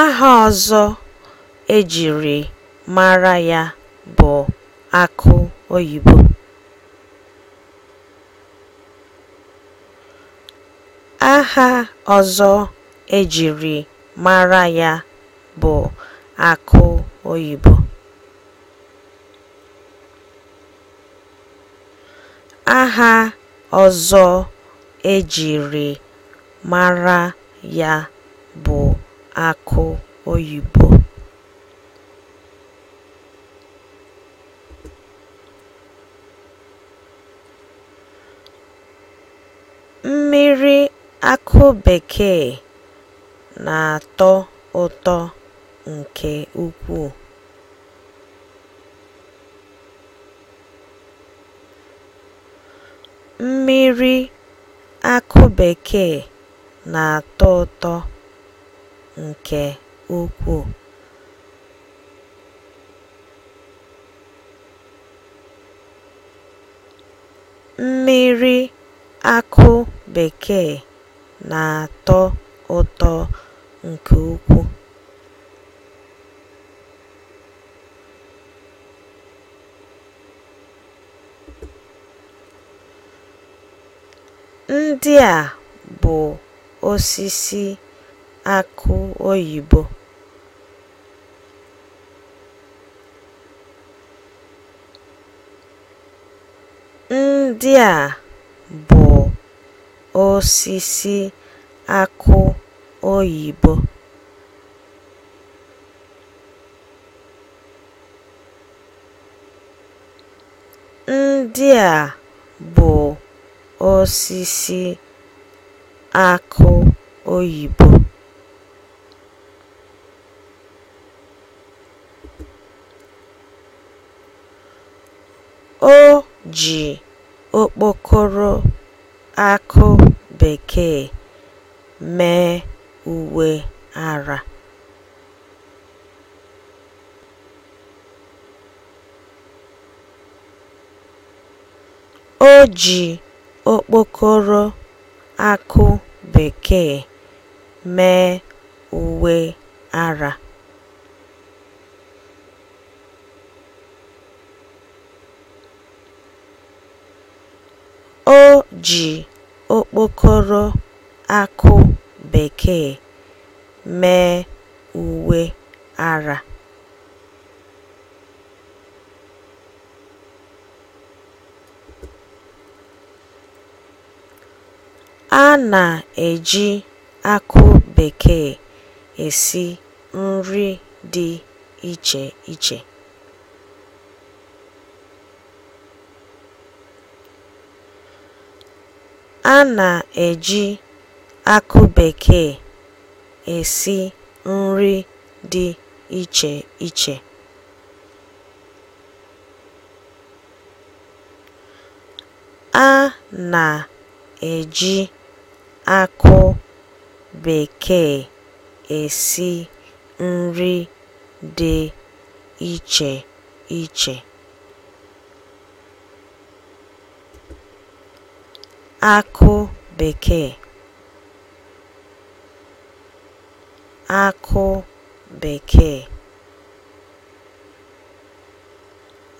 Aha ọzọ e jiri mara ya bụ akụ oyibo. Aha ọzọ e jiri mara ya bụ akụ oyibo. Aha ọzọ e jiri mara ya bụ akụ oyibo. Mmiri akụ bekee na-atọ ụtọ nke ukwuu. Mmiri akụ bekee na-atọ ụtọ nke ukwuu. Mmiri akụ bekee na-atọ ụtọ nke ukwuu. Ndị a bụ osisi akụ oyibo. Ndị a bụ osisi akụ oyibo. Ndị a bụ osisi akụ oyibo. O ji okpokoro akụ bekee mee uwe ara. O ji okpokoro akụ bekee mee uwe ara. O ji okpokoro akụ bekee mee uwe ara. A na-eji akụ bekee esi nri dị iche iche. A na-eji akụ bekee esi nri dị iche iche. A na-eji akụ bekee esi nri dị iche iche. akụ bekee akụ bekee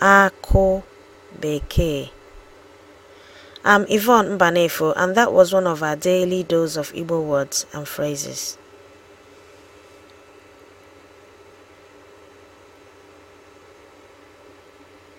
akụ bekee I'm Yvonne Mbanefo, and that was one of our daily dose of Igbo words and phrases.